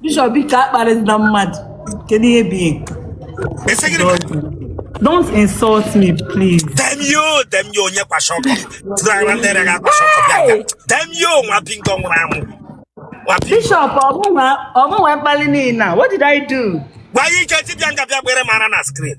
Bishop biko akparịna mmadụ kedu ihe bụ ego Ese gịnị ka don't insult me please damn you damn you onye kwa shọkọ tụrụara ndị rịa akwa shọkọ bịa bịa damn you nwa bingo nwụrụ anwụ nwa bingo Bishop ọ mụ nwe mkpali niile a, what did I do? gwa ya ike dibịa nga bịa gbere mara na screen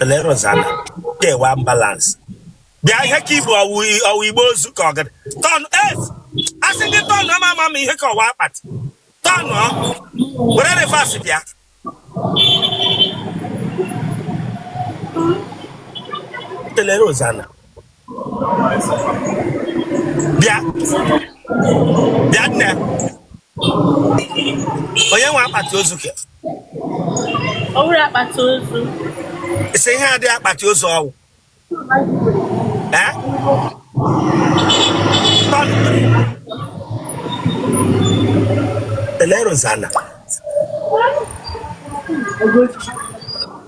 Ele Rosana, ke wụ ambulance. Bịa ihe ka i bu ọ wụ ọ wụ igbe ozu ka ọ gịrị. Turn es, a sị gị turn ama ama ma ihe ka ọ wụ akpati. Turn ọ, were reverse bịa. Ele Rosana, bịa bịa nne onye nwe akpati ozu ke ọ bụrụ akpati ozu isi ihe adịghị akpati ozu ọ wụ ele Rosana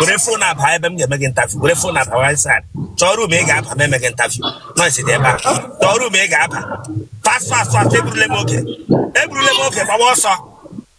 were phone aba ebe m ga-eme gị interview were phone aba inside chọọ room ị ga-aba ma eme gị interview noise dị ebe a chọọ room ị ga-aba fast fast fast egburule m oge egburule m oge gbawa ọsọ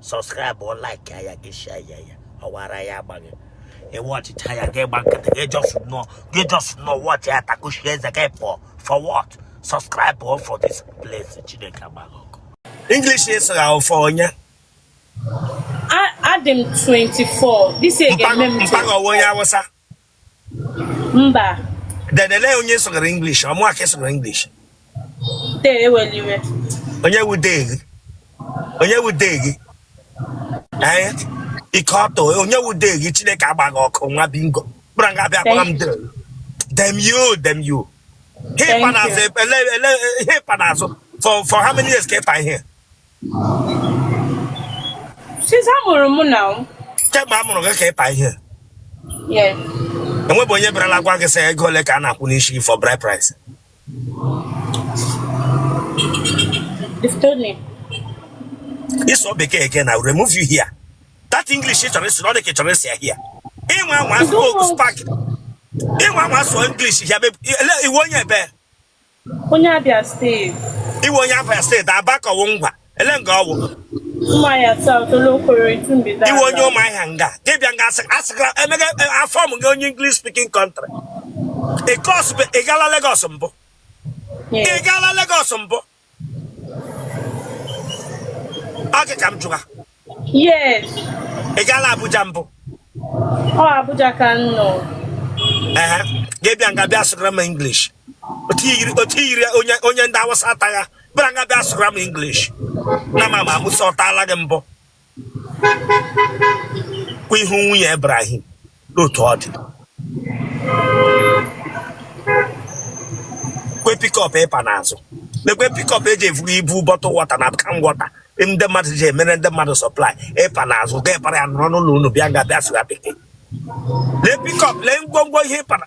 subscribe o like ya gị share ya ya ọ wụ ara ya-agba gị ị watchịcha ya gị gba nkịtị gị just nọ gị just nọ watchie ya takuchie eze gị pụọ for what subscribe o for this place Chineke agba gị ọkụ English ị sụgha ọ for onye a dị m 24 this year ga-eme m 24 mpa gị ọ wụ onye Awụsa Mba. Then ele onye sụgara English ọ mụa ka ị sụgara English. Dee ewele iwe. Onye wu dee gị? Onye wu dee gị? Ee, ike ọtọ onye wu dee gị Chineke agba gị ọkụ nwa bingo. Kpụrụ nga a bịa kpọrọ m dee. Damn you, damn you. Ihe ị pa n'azụ, ele ele ihe ị pa n'azụ for for how many years ka ị pa ihe? Since a mụrụ m nna m. Kemgbe a mụrụ gị ka ị pa ihe. Yes. E nwebu onye bịarala gwa gị sị ego ole ka a na-akwụ n'isi for bride price. They've told me. Ị sụọ bekee again, I will remove you here. That English ị chọrọ ịsụ na ọ dị ka ị chọrọ ịsụ ya here. Ị nwa anwa asụ spark. Ị nwa anwa asụ English ya ị wụ onye ebee. Onye Abia State. Ị wụ onye Abia State Aba ka ọ wụ Ngwa ele nga ọ wụ. Ụmụahịa South Olokoro Itumbida. Ị wụ onye Ụmụahịa nga gị bịa nga asịkara emega e, aform gị onye English speaking country. Because ị gala Lagos mbụ. Ị gala Lagos mbụ. Ọ gị ka m jụga. Yes. Ị gaala Abuja mbụ? Ọ Abuja ka m nọ. Ee, gị bịa nga bịa sụgara m English. Otu i yiri onye ndị Awụsa ata ya, bịa nga bịa sụgara m English. Na ma ma Musa ọ taala gị mbụ. Kwa ihu nwunye Ibrahim. n'otu ọ dị kwe pickup ị pa n'azụ lekwe pickup e ji evuga ibu bottle water na can water ndị mmadụ ji emere ndị mmadụ supply ị pa n'azụ gaa para ya nọrọ n'ụlọ unu bịa nga bịa sụga Bekee lee pickup lee ngwongwo ihe ị para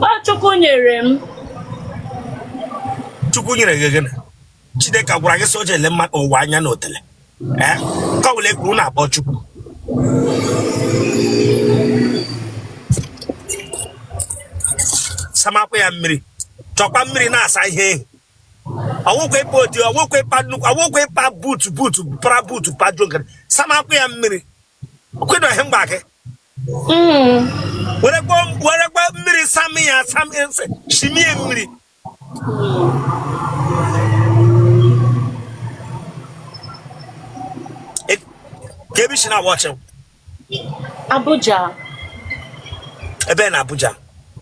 Ọ Chukwu nyere m. Chukwu nyere gị gịnị? Chineke gwara gị sị o jele mmadụ ụwa anya na otele. Ee, ka wule kwuru na-akpọ Chukwu. Samakwa ya mmiri. Chọkwa mmiri na-asa ihe ehi. Ọ wụkwa ịpa oti, ọ wụkwa ịpa nnukwu, ọ wụkwa ịpa buutu buutu, para buutu, pa jogere. Samakwa ya mmiri. Kwedo ihe mgba gị. Mm. Werekwa werekwa mmiri sam ya sam ese shimie mmiri. E- Kee ebe i si na-watch Abuja. ebee na Abuja.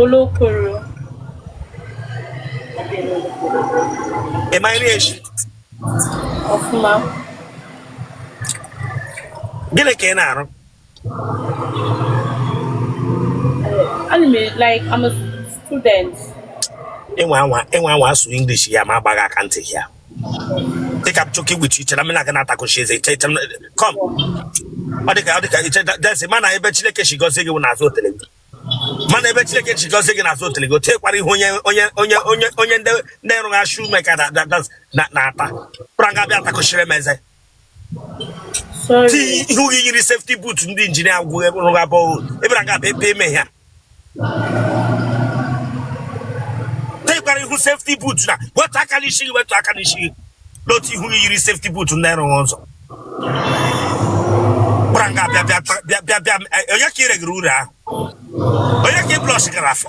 Olokoro. Ị ma nri eshi? Ọfụma. Gịnị ka ị na-arụ? Ana m like I'm a student. Enwe anwa enwe anwa asụ English ya m agbaa gị aka ntị ya. Take up chucky with you. I'm not gonna attack she say come. Ọ dị ka ọ dị ka iche desi mana ebe Chineke si gọzie gị n'azụ otele gị. Mana ebe Chineke si gọzie gị n'azụ otele gị, o tekwara ihe onye onye onye onye onye ndị ndị rụrụ shoemaker na na na na-ata. Bịa nga bịa atakụchiri m eze. ti ihu gị yiri safety boot ndị engineer gwụ rụrụ abụọ ebere aga bụ ebe eme ya tekwara ihu safety boot na wetu aka n'isi gị wetu aka n'isi gị n'otu ihu gị yiri safety boot ndị rụrụ ụzọ gwara nga bịa bịa bịa bịa bịa onye ka ị regara uru ahụ onye ka ị blọs gara afọ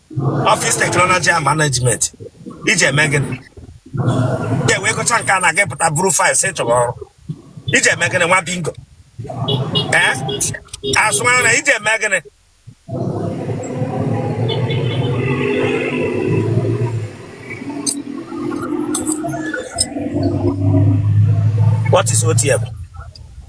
Office Technology and Management i ji eme gịnị ị wee gụcha nke a na gị pụta buru file sị chọrọ ọrụ i ji eme gịnị nwa bingo ee azụmahịa na i ji eme gịnị what is OTM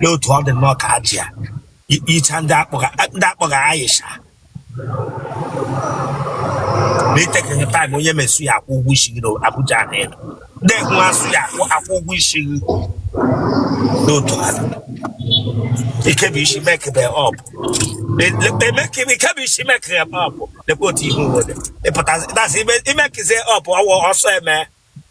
lee otu ọ dị nnọọ ka Hajiya Ai- Aisha ndị a kpọga ndị a kpọga Aisha na i tekeghị taịm onye awụsa ya akwụ ụgwọ isi gị na Abuja na ị nọ ndị awụsa ya akwụ akwụ ụgwọ isi gị n'otu ha ikebi isi mekebe ọp emekebe ikebi isi mekebe ọp lekwa otu ihe uwe dị ị pụtazi ịdazi imekize ọp ọ wụ ọsọ eme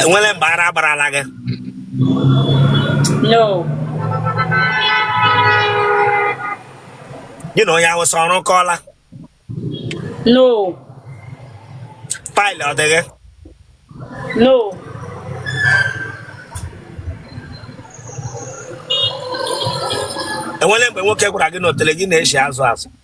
enwere mgbe ara agbarala gị gị na onye awụsa ọ rụkọọla no paịlụ ọ dị gị no enwere mgbe nwoke gwara gị na otele gị na-eshi azụ azụ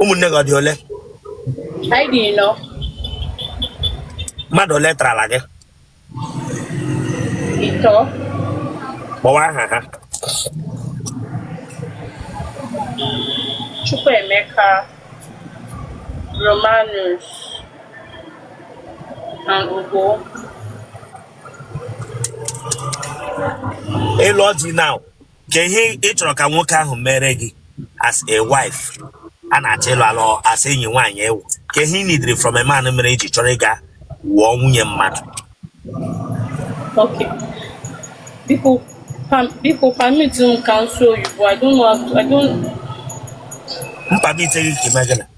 ụmụnne gị ọ dị ole anyị dị ịnọ mmadụ ole tarala gị ịtọ kpọwa aha ha Chukwuemeka Romanus and Ugo ịlụ ọjị now kee ihe ị chọrọ ka nwoke ahụ mere gị as a wife a na-achọ ịlụ alụ as enyi nwaanyị ị wụ kee ihe ị nidiri from a man mere i ji chọrọ ịga wụọ nwunye mmadụ Okay. Biko, pam, biko permit m ka m sụọ oyibo. I don't know how to, I don't, m permitie gị ka i mee gịnị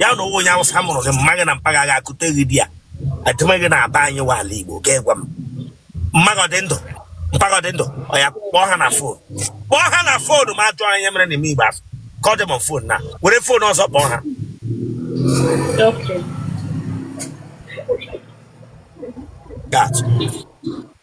ya na ọ wụ onye awụsa mụrụ gị mma gị na mpa gị aga kute gị di ya adịma gị na-aba anyị wa ala igbo ga gwa m mma gị ọ dị ndụ mpa gị ọ dị ndụ oya kpọọ ha na fon kpọọ ha na fon m ajụọ ya ihe mere na ị maghị igbo asụ ka ọ dị m fon na were fon ọzọ kpọọ ha Okay. that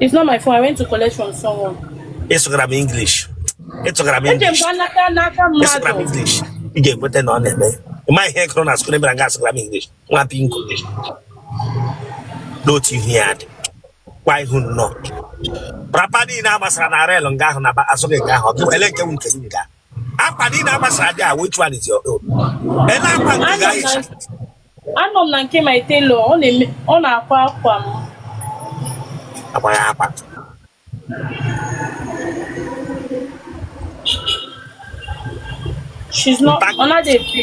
It's not my phone. I went to collect from someone. Ị sụgara m English. Ị sụgara m English. Eji m n'aka n'aka mmadụ. Ị sụgara m English. Ị ga-ekweta na ọ na-eme. Ị maghị ihe kụrụ na skul ebere nga asụgara m English. Nwa pinko. N'otu ihu ya dị. Kwa ihu nnọọ. Rapa niile a gbasara na rel nga ahụ na asụghị nga ahụ. Ọ bụ ele nke wụ nke gị. akwa niile a gbasara nga a which one is your own ele akwa nke gị ehicha anọ m na nke my tailor ọ na-eme ọ na-akwa akwa m akwa ya akwa she's not Mpa- ọ na-adụ efe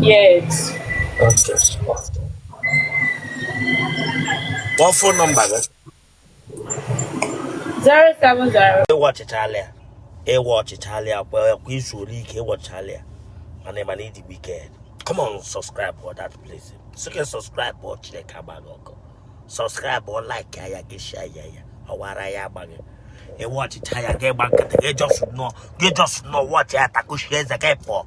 Yes. Okay. What phone number? Zero seven zero. Watch it, Alia. ị wọchịchala ya kwa izu ole ike ị wọchịchala ya mana ị ma na ị dị wicked come on subscribe for that place sike subscribe ọ Chineke agba gị ọkụ subscribe ọ like ya ya gị share ya ya ọwara ya agbaghị ị wọchịcha ya gị gba nkịtị gị just nọ gị just nọ wọchị ya takushi eze gị pụọ